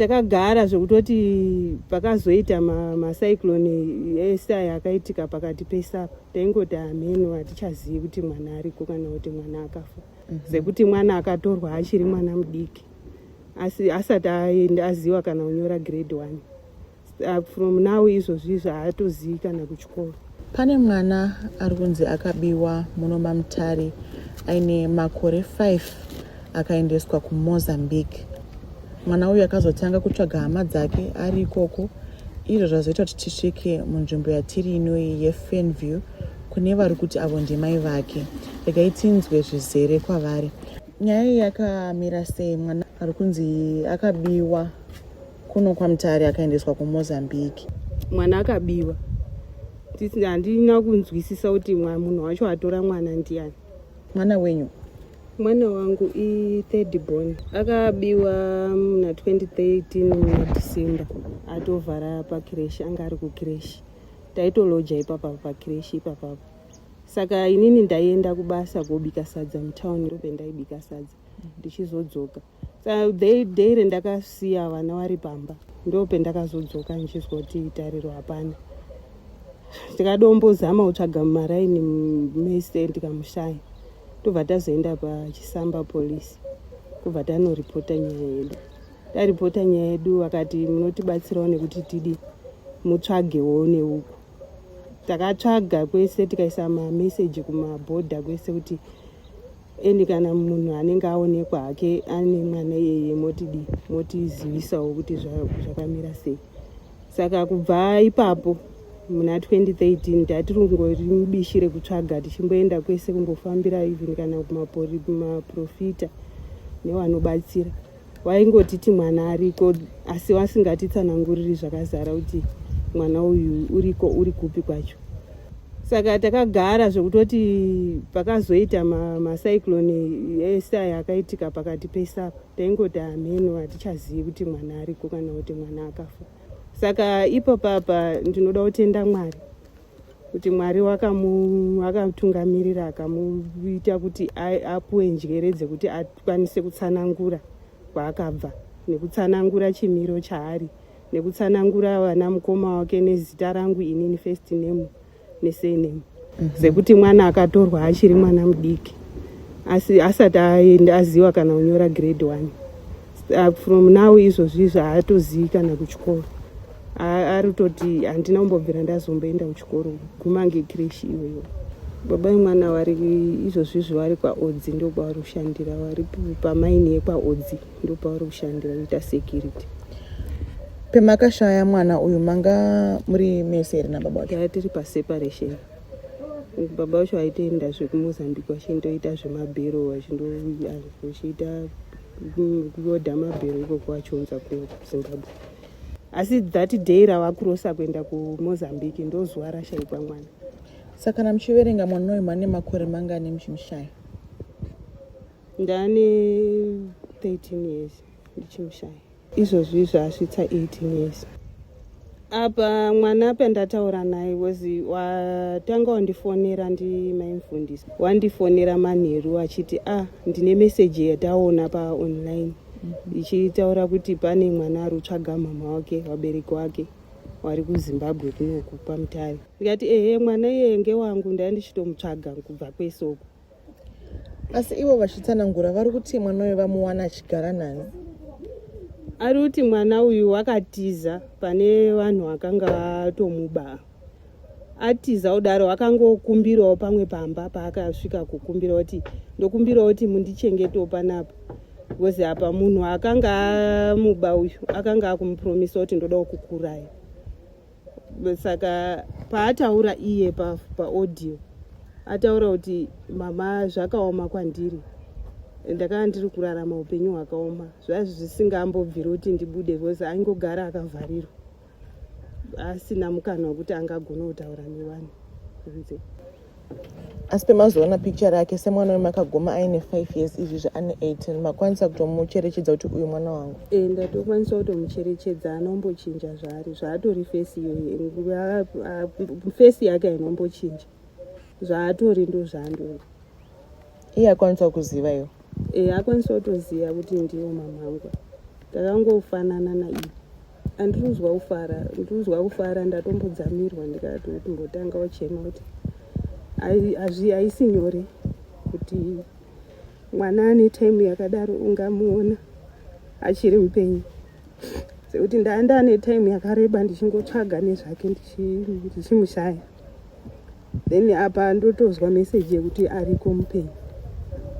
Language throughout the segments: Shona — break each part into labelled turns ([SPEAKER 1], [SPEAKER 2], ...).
[SPEAKER 1] takagara zvekutoti pakazoita macyclone ese aya akaitika pakati pese apa taingoti hameno hatichazivi kuti mwana ariko kana kuti mwana akafa mhm. sekuti mwana akatorwa achiri mwana mudiki asi asati aenda aziva kana kunyora grade one Uh, from now izvozvi izvi haatozivi kana kuchikoro pane mwana
[SPEAKER 2] ari kunzi akabiwa muno mamutare aine makore 5 akaendeswa kumozambique mwana uyu akazotanga kutsvaga hama dzake ari ikoko izvo zvazoita kuti tisvike munzvimbo yatiri inoyi yefenview kune vari kuti avo ndimai vake regai tinzwe zvizere kwavari nyaya iyi yakamira sei mwana ari kunzi akabiwa kuno kwamutare akaendeswa kumozambique mwana
[SPEAKER 1] akabiwa handina kunzwisisa kuti munhu wacho atora mwana ndiani mwana wenyu
[SPEAKER 2] mwana
[SPEAKER 1] wangu ithird born akabiwa muna 2013 muna december atovhara pakreshi anga ari kukreshi taitoloja ipapa pakreshi ipapapa saka inini ndaienda kubasa kobika sadza mutown ndope ndaibika sadza ndichizodzoka daily ndakasiya vana vari pamba ndopendakazodzoka ndichizwa kuti tariro hapana tikadombozama kutsvaga mumaraini mese ndikamushaya tobva tazoenda pachisamba polisi kubva tanoripota nyaya yedu taripota nyaya yedu akati munotibatsirawo nekuti tidi mutsvagewo neuku takatsvaga kwese tikaisa mameseji kumabhodha kwese kuti endi kana munhu anenge aonekwa hake ane mwana iyeye motidi motizivisawo kuti zvakamira sei saka kubva ipapo muna 2013 tatiri kungori mubishi rekutsvaga tichimboenda kwese kumbofambira even kana kumaprofita newanobatsira ma waingotiti mwana ariko asi wasingatitsananguriri zvakazara kuti mwana uyu uriko uri kupi kwacho saka takagara zvekutoti pakazoita macyclone ma ese aya akaitika pakati pesaka taingoti hameno hatichazivi kuti mwana ariko kana kuti mwana akafa saka ipo papa ndinoda kutenda mwari kuti mwari wakamutungamirira akamuita kuti apuwe njere dzekuti akwanise kutsanangura kwaakabva nekutsanangura chimiro chaari nekutsanangura vana mukoma wake nezita rangu inini first name nesename mhm. sekuti mwana akatorwa achiri mwana mudiki asi asati aenda aziva kana kunyora grade one from now izvozvi zvaatozivi kana kuchikoro ari kutoti handina kumbobvira ndazomboenda kuchikoro guma ngekreshi iweyo baba vemwana vari izvozvi izvo vari kwaodzi ndokwavari kushandira vari pamaini yekwaodzi ndokwavari kushandira kuita security
[SPEAKER 2] pemakashaya mwana uyu manga muri mese here nababa wake aa tiri
[SPEAKER 1] paseparation baba vacho aitoenda zvekumozambique vachindoita zvemabhero vachindochiita kuoda mabhero ikoko vachionza kuzimbabwe asi that day ravakurosa kuenda kumozambique ndozuva rashaikwa mwana saka kana
[SPEAKER 2] muchiverenga mwana uyu mane makore mangani muchimushaya
[SPEAKER 1] ndane 13 years ndichimushaya izvozvi izvo asvitsa 18 years apa mwana pandataura naye wezi watanga wandifonera ndimaimfundisi wandifonera manheru achiti a ah, ndine meseji yataona paonline ichitaura kuti pane mwana ari kutsvaga mhamha wake vabereki wake wari kuzimbabwe kunoku pamutare ndikati ehe mwana iyeye ngewangu ndai ndichitomutsvaga kubva kwese uku
[SPEAKER 2] asi ivo vachitsanangura vari kuti mwana uyo vamuwana achigara nani
[SPEAKER 1] ari kuti mwana uyu wakatiza pane vanhu vakanga vatomuba atiza kudaro akangokumbirawo pamwe pamba paakasvika kukumbira kuti ndokumbirawo kuti mundichengetawo panapa bcause apa munhu akanga amuba uyu akanga akumupromisa kuti ndoda kukukuraya saka paataura iye paaudio pa ataura kuti mama zvakaoma kwandiri ndakanga ndiri kurarama upenyu hwakaoma zvaiva zvisingambobviri kuti ndibude bcause aingogara akavharirwa asina mukana wekuti angagona kutaura nevanhu kunze
[SPEAKER 2] asi pemazoona picture rake semwana wemakagoma aine 5 years izvi zvaane 18 makwanisa kutomucherechedza kuti uyu mwana wangu e ndatokwanisa
[SPEAKER 1] kutomucherechedza anombochinja zvaari zvaatori fesi iyoyo fesi yake ainombochinja zvaatori ndozvaandori iye akwanisa
[SPEAKER 2] kuziva
[SPEAKER 1] iwo
[SPEAKER 2] e eh,
[SPEAKER 1] akwanisa kutoziva
[SPEAKER 2] kuti
[SPEAKER 1] ndiwo mamhangu takangofanana naiye andiruzwa kufara ndiruzwa kufara ndatombodzamirwa ndikatombotanga uchema kuti haisi nyore kuti mwana ane time yakadaro ungamuona achiri mupenyu sekuti ndaenda ane time yakareba ndichingotsvaga nezvake ndichimushaya then apa ndotonzwa message yekuti ariko mupenyu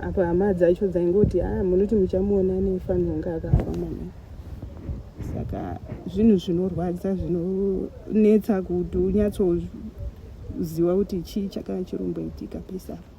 [SPEAKER 1] apa hama dzacho dzaingoti a ah, munoti muchamuona nefanirwa kunge akafa mwana saka zvinhu zvinorwadza zvinonetsa kuti unyatsoziva kuti chii chakanga chiromboitika pese apa